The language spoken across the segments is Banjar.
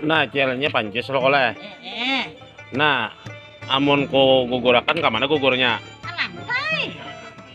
Nah, jalannya panjus lo koleh. Eh, eh. Nah, amun ku gugurakan ke mana gugurnya? Ke lantai.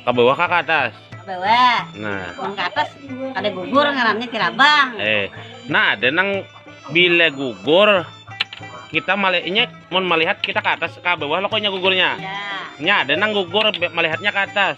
Ke bawah ke atas? Ke bawah. Nah. Amun ke atas ada gugur ngarannya tirabang. Eh, nah ada nang bila gugur kita melihatnya mun melihat kita ke atas ke bawah lo koknya gugurnya. Ya. Nya ada nang gugur melihatnya ke atas.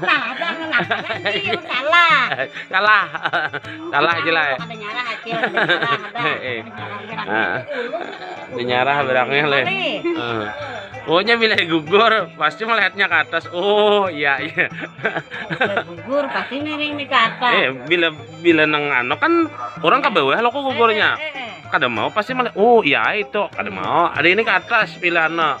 Kalah dah kalah. Kalah. Kalah. Kalah aja lah. Ada nyarah acil. Ada nyarah berangnya leh. Pokoknya bila gugur pasti melihatnya ke atas. Oh iya iya. gugur pasti miring di ke atas. Eh bila bila nang ano kan orang ke bawah lo kok gugurnya. Eh, eh, eh, kada mau pasti melihat. Oh iya itu kada mau. Ada ini ke atas bila ano.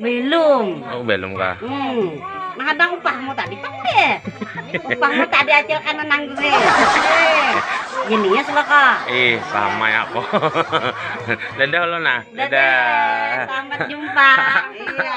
Belum. Oh, belum kah? Hmm. Nah, ada upahmu tadi pang deh. upahmu tadi acil kan nang gue. Gini ya selaka. Ih, sama ya kok. Dadah lo nah. Dadah. Dadah. Sampai jumpa. iya.